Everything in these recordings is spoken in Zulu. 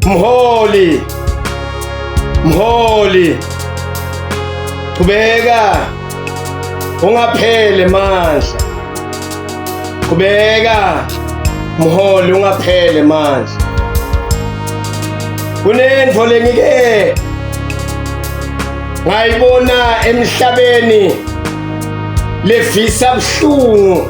Mholi. Mholi. Qhubeka. Ungaphele mandla. Qhubeka. Mholi ungaphele mandla. Kunento lengike ngayibona emhlabeni levisa buhlungu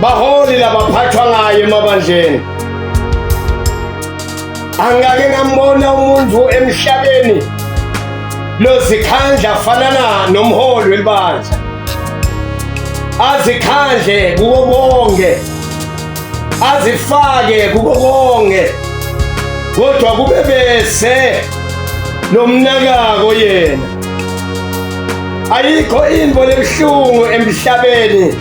baholi labaphathwa ngayo emabandleni angake ngambona umuntu emhlabeni lozikhandla afanana nomholi welibandla azikhandle kuko konke azifake kuko konke kodwa kube bese lomnakako yena ayikho into lebuhlungu emhlabeni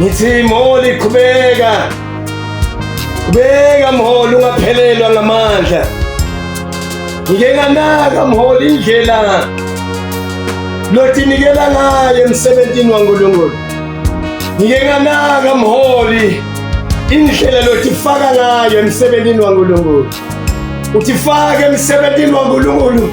Ngithi mholi qhubeka. Qhubeka mholi ungaphelelwa ngamandla. Ngike nganaka mholi indlela lotinikela ngayo emsebenzini waNkulunkulu. Ngike nganaka mholi indlela lotifaka ngayo emsebenzini waNkulunkulu. Utifake emsebenzini waNkulunkulu.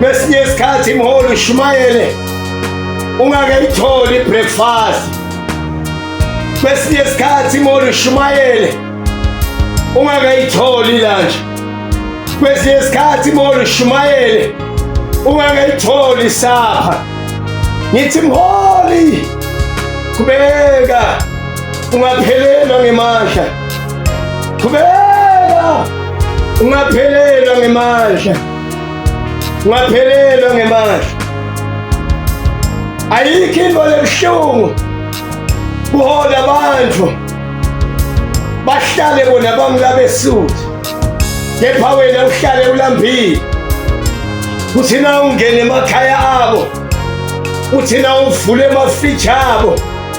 Kwesinye isikhathi imholi ushumayele ungakayitholi breakfast. Kwesinye isikhathi imholi ushumayele ungakayitholi lunch. Kwesinye isikhathi imholi ushumayele ungakayitholi supper. Ngithi mholi kubeka ungaphelelwa ngemandla Qhubeka! Ungaphelelwa ngemandla. Ungaphelelwa ngemandla. Ayikho into lebuhlungu kuhola abantu bahlale bona bamlabesuthi kepha wena uhlale ulambile kuthina ungene emakhaya abo kuthina uvule amafriji abo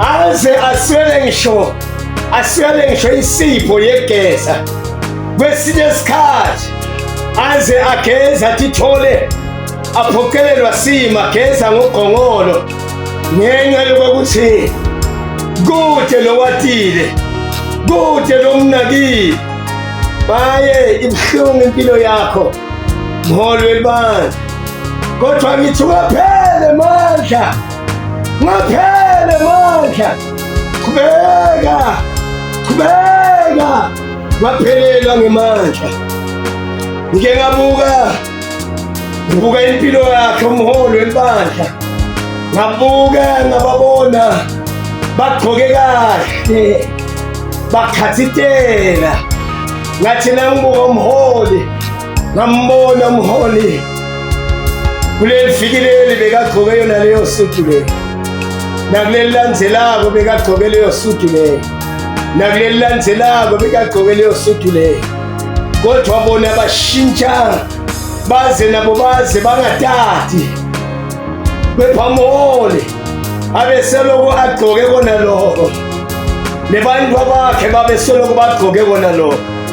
aze aswele ngisho aswele ngisho insipho yegeza kwesinye isikhathi aze ageza tithole aphoqelelwa sima geza ngogongolo ngenxa yokuthi kude lowatile kude lomnakile baye ibuhlungu impilo yakho mholo welibandla kodwa ngithi ukaphele mandla Ngaphele mandla. Qhubeka. Qhubeka. Ngaphelelwa ngemandla. Ngike ngabuka ngibuka impilo yakhe umholi webandla. Ngabuka ngababona bagqoke kahle. Bakhathitela. Ngathi nangibuka umholi ngambona umholi kuleli viki leli bekagqoke yona leyo sudu leyo nakuleli landzelako bekagqoke leyo sudu leyo nakuleli landzelako bekagqoke leyo sudu leyo kodwa bona bashintsha baze nabo baze bangatati kepha mholi abeseloko agqoke kona loko nebantu abakhe babesoloko bagqoke kona loko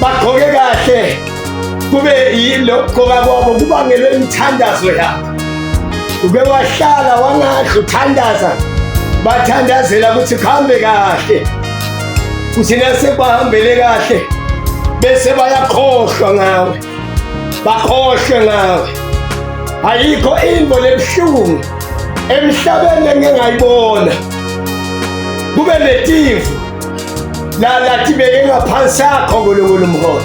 bagqoke kahle kube yilokugqoka kwabo kubangelwe imithandazo yakho uke wahlala wangadla uthandaza bathandazela ukuthi kuhambe kahle kuthi nasebahambele kahle bese bayakhohlwa ngawe bakhohlwe ngawe ayikho into lebuhlungu emhlabeni engingayibona kube netimvu lalatibeke ngaphansi akho nkulunkulu umholi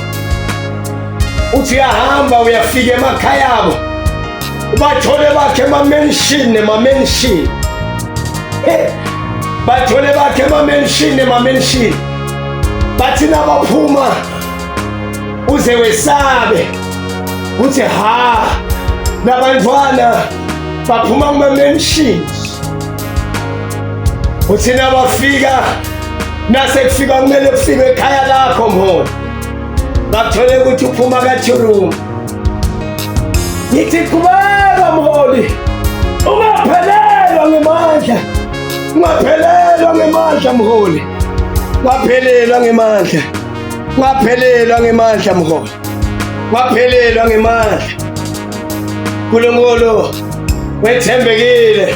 uthi uyahamba uyafika emakhaya abo ubathole bakhe emamenshini nemamenshini bathole bakhe emamenshini nemamenshini bathi nabaphuma uze wesabe uthi ha labantwana baphuma kumamenshini uthina bafika nase kufika kumele kufike ekhaya lakho mholi bakuthole ukuthi uphuma kathurumu ngithi qhubeka mholi ungaphelelwa ngemandla ungaphelelwa ngemandla mholi waphelelwa ngemandla waphelelwa ngemandla mholi waphelelwa ngemandla nkulunkulu wethembekile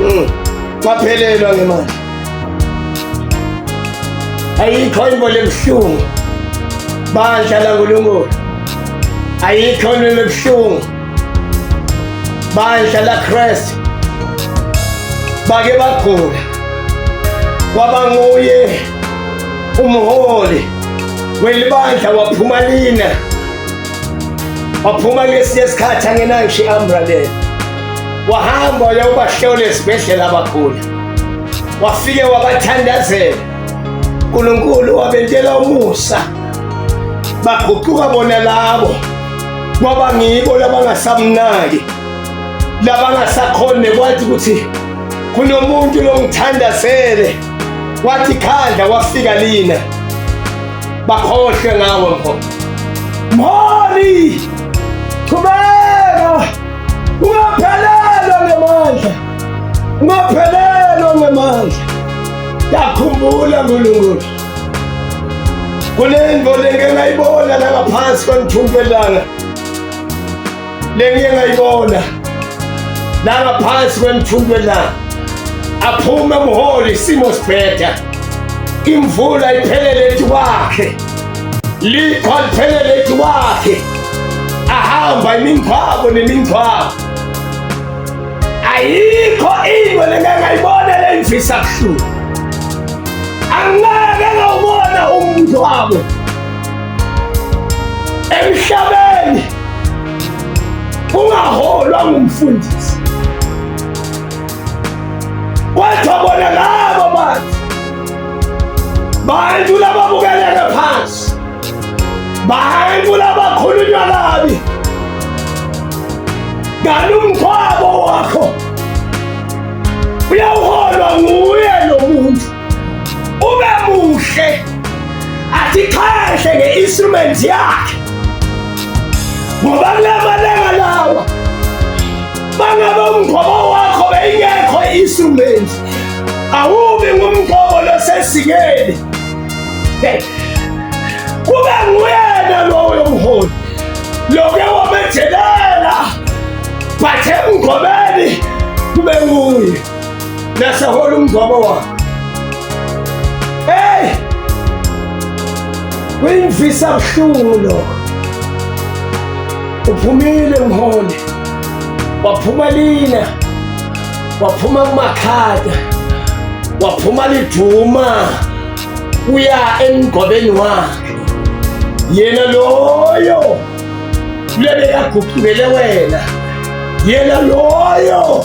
Mm. Ngaphelelwa ngemali. Ayikho into lebuhlungu. Bandla la uNkulunkulu. Ayikho into lebuhlungu. Bandla la Christ. Bake bagula. Kwaba nguye umholi welibandla waphuma lina. waphuma ngesinye isikhathi angenayo ngisho i-ambulaneni wahamba waya ubahlola esibhedlela abakhula wafike wabathandazela unkulunkulu wabentela umusa baguquka bona labo kwaba ngibo labangasamnaki labangasakhone kwathi ukuthi kunomuntu longithandazele wathi khandla wafika lina bakhohlwe ngawe mfo mholi qhubeka ungaphelelwa ngemandla ungaphelelwa ngemandla yakhumbula nkulunkulu kunento lengengayibona langaphansi kwanithumbu elanga Lengiye ngayibona la ngaphansi kwemthunjwe la aphume umholi isimo sibheda imvula iphelele ethi wakhe likho liphelele ethi wakhe ahamba imingcwabo nemingcwabo ayikho into lengangayibona leyimfisa buhlungu angeke ngawubona umngcwabo emhlabeni ungaholwa ngumfundisi kodwa bona labo bantu bantu lababukeleke phansi bantu labakhulunywa kabi kanti umthwabo wakho uyawuholwa nguye lo muntu ube muhle atixheshe nge-instrument yakhe ngoba kula malanga lawa bangabe umgqobo wakho beyingekho i-instrument awubi ngumgqobo losesikeni kube nguyena loyo mholi loke wamethelela bathe emgqobeni kube nguye Nasahola umngcwabo wakhe. Hey! Kuyimvisa buhlungu lokho. Uphumile mholi. Waphuma lina. Waphuma kumakhada. Waphuma liduma. Uya emgobeni wakhe. Yena loyo lebe yaguqukele wena. Yena loyo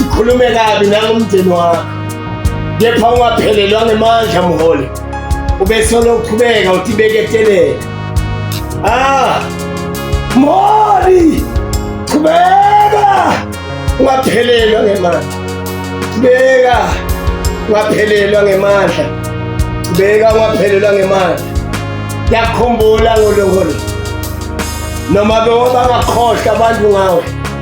ukhulume kabi nangomndeni wakho kepha ungaphelelwa ngemandla mholi ubesolo uqhubeka uthi beketelele ah mholi qhubeka ungaphelelwa ngemandla qhubeka ungaphelelwa ngemandla qhubeka ungaphelelwa ngemandla yakhumbula ngolongolo noma bewabangakhohlwa abantu ngawe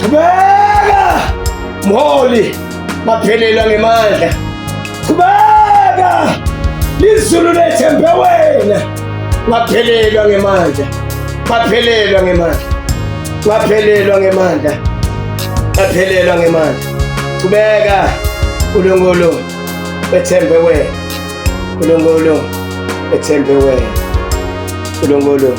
Qhubeka! Mholi, baphelelwa ngemandla. Qhubeka! Lizulu lethembe wena. Baphelelwa ngemandla. Baphelelwa ngemandla. Baphelelwa ngemandla. Baphelelwa ngemandla. Qhubeka! Nkulunkulu bethembe wena. Nkulunkulu bethembe wena. Nkulunkulu